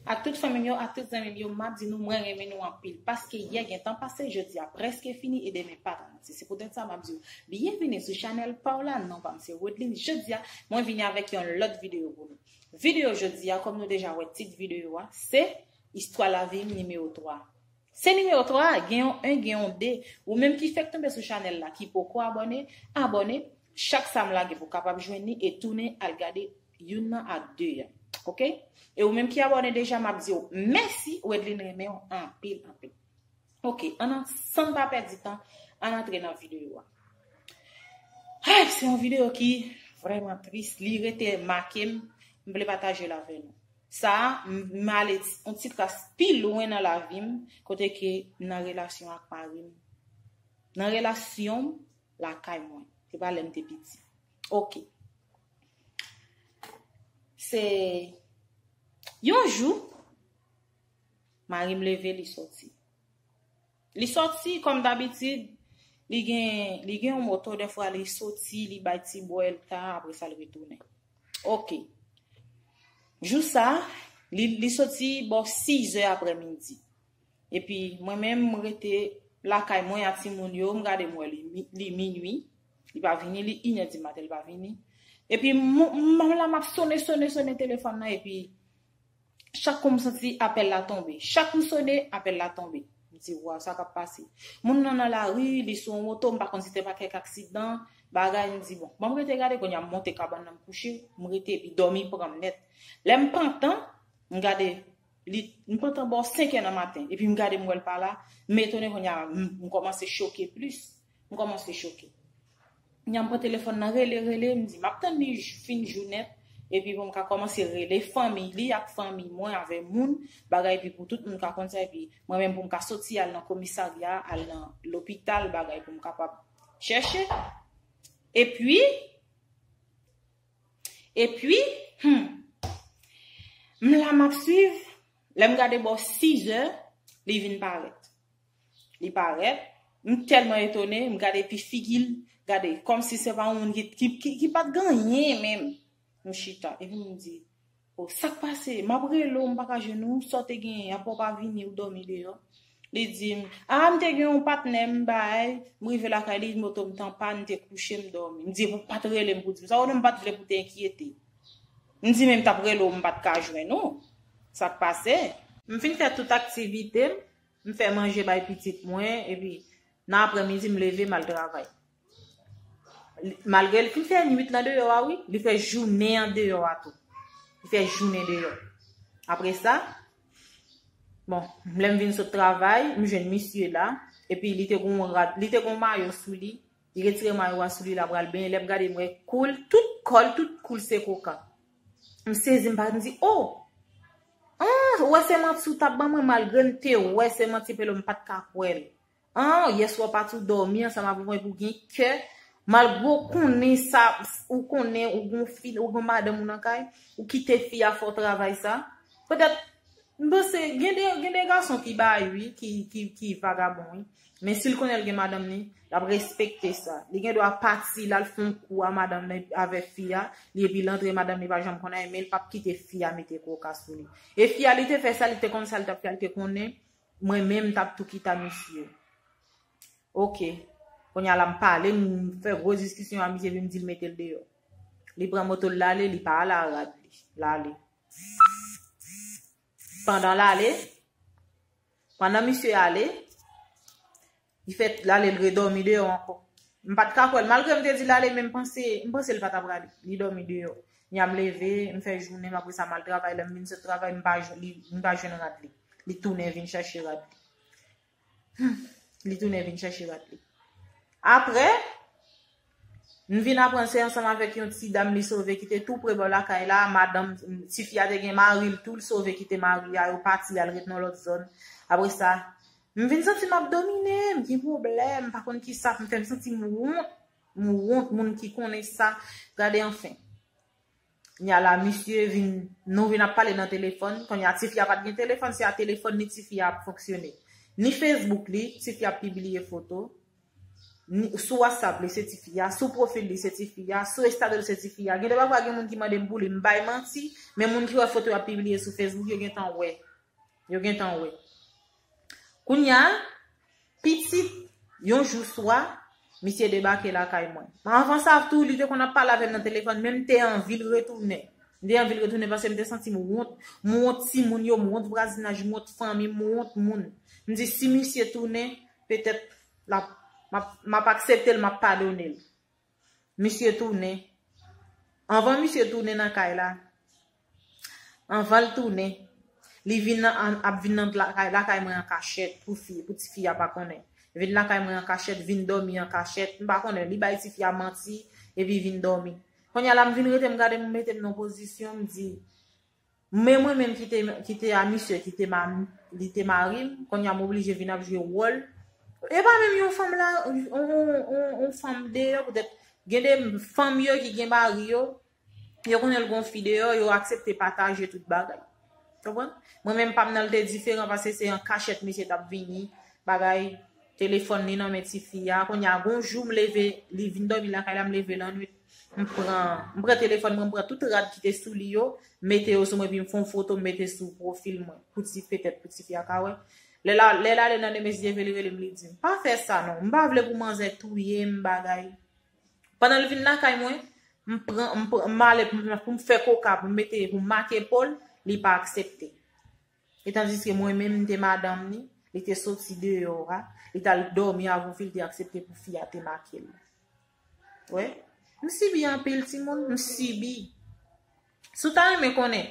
Ak tout fanmim yo ak tout zanmim yo map di nou mwen renmen nou anpil paske yè gentan pase jodia preske fini e demen pa garanti se poutèt sa map diw byenvini sou chanèl paw la non pam se Rodeline jodia mwen vini avèk yon lòt videyo pou nou videyo jodia kòm nou deja wè tit videyo a se istwa lavim nimewo 3 se nimewo 3 gen yon 1 gen yon 2 ou menm ki fèk tonbe sou chanèl la ki poko abòne abòne chak sam lage pou kapab jwenn li e tounen al gade Youn nan ak 2 an ok. E ou menm ki abòne deja map diw mèsi Wedline renmenw anpil anpil ok an nan sann pa pèdi tan an antre nan video a Ayy se yon video ki vrèman tris li rete makem m vle patajel avè nou sa m ale yon ti kras pi lwen nan lavim kote ke nan relasyon ak marim nan relasyonm lakay mwen se pa lèm te piti ok. Se yon jou, mari m leve li soti. Li soti, kòm dabitid, li gen yon moto, defwa li soti, li bay ti bwèl ta, apre sa li retounen. Ok. Jou sa, li soti bò 6 zè aprè midi. Epi mwen menm m rete lakay mwen a timoun yo, m gade m wè li minui, li pa vini, li inè di maten li pa vini. Epi m la m ap sone sone sone telefòn nan epi chak kou m santi apèl la tonbe. Chak m sone, apèl la tonbe. M di waw sa k ap pase. Moun nan nan lari, li sou yon moto, m pa konn si te pa kèk aksidan, bagay, m di bon, ban m rete gade kounye a m monte kabann nan m kouche, m rete epi dòmi pran m nèt. Lè m pantan, m gade. Li m pantan bò 5 è nan maten epi m gade m wè l pa la, m etone konnya m kòmanse choke plis, m kòmanse choke. Konnya m pran telefòn nan rele rele, m di map tann li fin jou nèt epi pou m ka kòmanse rele fanmiy li ak fanmiy mwen avè moun bagay epi pou tout moun ka konn sa epi mwen menm pou m ka soti al nan komisarya al nan lopital bagay pou m kapab chèche epi Epi, humm. M la m ap swiv, lè m gade bò 6 zè, li vin parèt. Li parèt, m tèlman etone, m gade epi figi l, gade, kòmsi se pa yon moun ki pat gen anyen menm. M chita, epi m di. Oh sak pase map rele w m paka jwenn ou sa w te genyen aprè w pa vini ou dòmi deyò li dim ah m te gen yon patnè m bay m rive lakay li moto m t an pàn m te kouche m dòmi m di e pou w pat rele m pou w di m sa konnen m pat vle pou w te enkyete m di men m tap rele w m pat ka jwenn ou sak pase. M fin fè tout aktivite m m fè manje bay pitit mwen epi nan aprè midi m leve m al travay. Malgre li fin fè nwit nan deyò a wi, li fè jounen an deyò a tou. Li fè jounen deyò. Apre sa, bon, mlem vin sot travay, m jwenn misye la, epi li te gon rad, li te gon mayo sou li, li retire mayo a sou li la pral benyen, lèm gade mwen koul, tout kol, tout koul se koka. M sezi m pa, m di, oh! Ah, ou wè se manti ou tap ban mwen malgre m te wè se manti pelo m pat ka kwèl. An yeswa pat ou domi ansanm avm wi pou gen kè malgre ou konnen sa ou konnen ou gon fi ou gon madanm ou nan kay ou kite fi a fè w travay sa petèt m panse gen de gen de gason ki bay wi ki ki ki vagabon wi men sil konnen l gen madanm li lap respekte sa li gen dwa pati lal fè yon kou a madanm li avèk fi a li epi l antre madanm li pa janm konn anyen men l pap kite fi a mete koka sou li e fi a li te fè sa li te konn sa li tap fè a li te konnen Mwen menm mtap tou kita misye. Ok. Kounya la m pale m fè gwo diskisyon a misye vin m dil metel deyò. Li pran motol lale li pa ala rad li. Lale. Pandan lale. Pandan misye ale. Li fè l ale l redòmi deyò ankò. M pa t ka kwè l. Malgre m te di l ale men m panse m panse l pa t ap rale. Li dòmi deyò. Ya m leve, m fè jounen m apre sa m al travay. Lè m vin sot travay m pa jwenn li m pa jwenn rad li. Li tounen vin chache rad li. Humm li tounen vin chache rad li. Apre, M vin aprann se ansanm avèk yon ti dam li sove ki te tou pre bò lakay la, madanm, ti fi a te gen mari l tou, l sove kite mari a, yo pati y al ret nan lòt zòn. Apre sa, m vin santi m ap domine, m gen pwoblèm, m pa konn ki sa pou m fè, m santi m wont, m wont moun ki konnen sa, gade anfen. Knya la misye vin nou vin ap pale nan telefòn kounya tifi a pat gen telefòn se a telefòn li tifi a ap fonksyone ni facebook li tifi ap pibliye foto ni sou whatsapp li se tifi a sou profil li se tifi a sou estado li se tifi a gende pafwa gen moun ki mandem pou li m bay manti men moun ki wè foto yap pibliye sou facebook yo gentan wè yo gentan wè Kounya, pitit, yon jou swa, misye debake lakay mwen. Men anvan sa tou, li te konn ap pale avè m nan telefòn, men m te anvi l retounen. M te anvi l retounen paske m te santi m wont. M wont timoun yo, m wont vwazinaj, m wont fanmi, m wont moun. M di si misye tounen, petèt, l ap, m ap aksepte l, m ap padone l. Misye tounen. Anvan misye tounen nan kay la. Anvan l tounen. Li vin nan, ap vin nan lakay, lakay mwen an kachèt pou fi, pou ti fi a pa konnen. Vin lakay mwen an kachèt, vin dòmi an kachèt. M pa konnen, li bay ti fi a manti, epi vin dòmi. Kounye a la m vin rete m gade m mete m nan pozisyon m di, Men mwen menm ki te a misye ki te li te marim, konnya m oblije vin ap jwe wòl. E pa menm yon fanm la, yon fanm deyò poutèt gen de fanm yo ki gen mari yo, yo konnen l gon fi deyò, yo aksepte pataje tout bagay. Mwen menm pa m nan l te diferan pase se an kachèt misye t ap vini bagay. Telefòn li nan men tifi a. Kounye a gon jou m leve, li vin dòmi lakay la, m leve lannwit, m pran, m pran telefòn mwen, m pran tout rad ki te sou li yo, m mete yo sou mwen epi m fè yon foto m mete sou pwofil mwen pou ti, petèt pou tifi a ka wè. Lè la, lè l ale nan demen si Dye vle li rele m li di m, pa fè sa non, m pa vle pou manzè touye m bagay. Pandan l vin lakay mwen, m pran, m pran, m ale pou m fè koka pou m mete, pou m make po l, li pa aksepte. E tandiske mwen menm m te madanm li, li te soti deyò a, li t al dòmi avon fi l te aksepte pou fi a te make l. Ou wè? M sibi anpil timoun, m sibi. Si w ta renmen konnen,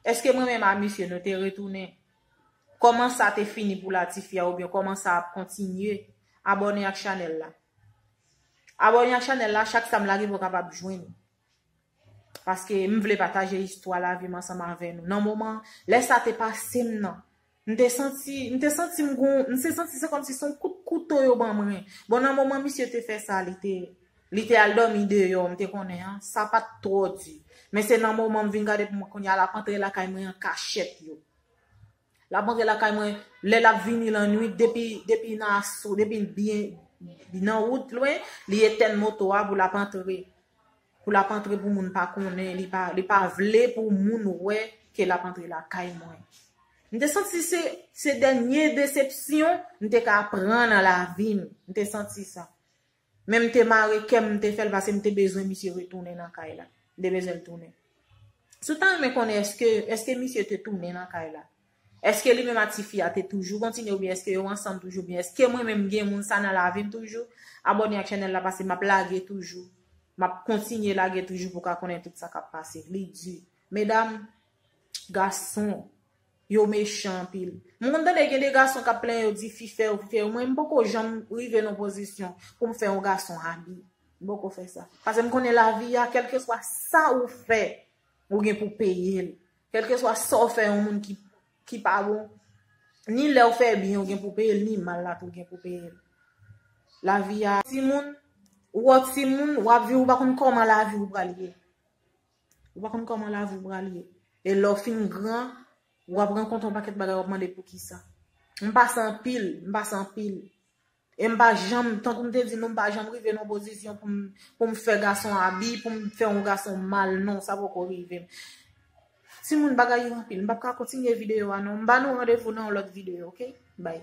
èske mwen menm a misye nou te retounen? Kòman sa te fini pou Latifia oubyen kòman sa ap kontinye? Abòne ak chanèl la. Abòne ak chanèl la, chak sa m lage vò kapab jwenn. Paske m vle pataje istwa lavi m ansanm avè nou. Nan moman, lè sa te pase m nan, m te santi, m te santi m gon, m te santi se kòmsi se yon kout kouto yo ban mwen. Bon nan moman misye te fè sa, li te, li te al dòmi deyò, m te konnen an, sa pa t twò di. Men se nan moman m vin gade pou m wè kounye a l ap antre lakay mwen an kachèt yo. Lap antre lakay mwen lè lap vini lannwit depi depi nan aso depi l byen nan wout lwen li etèn moto a pou lap antre pou lap antre pou moun pa konnen li pa li pa vle pou moun wè ke lap antre lakay mwen m te santi se se dènye desepsyon m te ka pran nan lavi m m te santi sa. Men m te mare kè m, m te fè l pase m te bezwen misye retounen nan kay la. M te bezwen l tounen. Si w ta renmen konnen èske èske misye te tounen nan kay la? Èske li menm ak ti fi a te toujou kontinye oubyen èske yo ansanm toujou oubyen èske mwen menm m gen moun sa nan lavi m toujou? Abòne ak channel la pase m ap lage toujou. M ap kontinye lage toujou pou w ka konnen tout sa k ap pase. Li di, medam, gason. Yo mechan anpil. M konn tande gen de gason kap plenyen yo di fi fè yo fi fè yo mwen m poko janm rive nan pozisyon poum fè yon gason abi m poko fè sa pasem konnen lavi a kelkeswa sa ou fè ou gen pou peyel kelkeswa sa ou fè yon moun ki ki pa bon ni lèw fè byen ou gen pou peyel ni mal la tou gen pou peyel lavi a timoun ou an timoun wap viv ou pa konn koman lavi ou pral ye. Ou pa konn kòman lavi w pral ye. E lè w fin gran, w ap rankont yon pakèt bagay w ap mande poukisa. M pase anpil, m pase anpil. E m pa janm, tankou m te di nou, m pa janm rive nan yon pozisyon pou m fè gason abi, pou m fè yon gason mal, non, sa poko rive m. Ti moun bagay yo anpil, m pap ka kontinye videyo a non. M ba nou randevou nan yon lòt videyo, ok? Bay.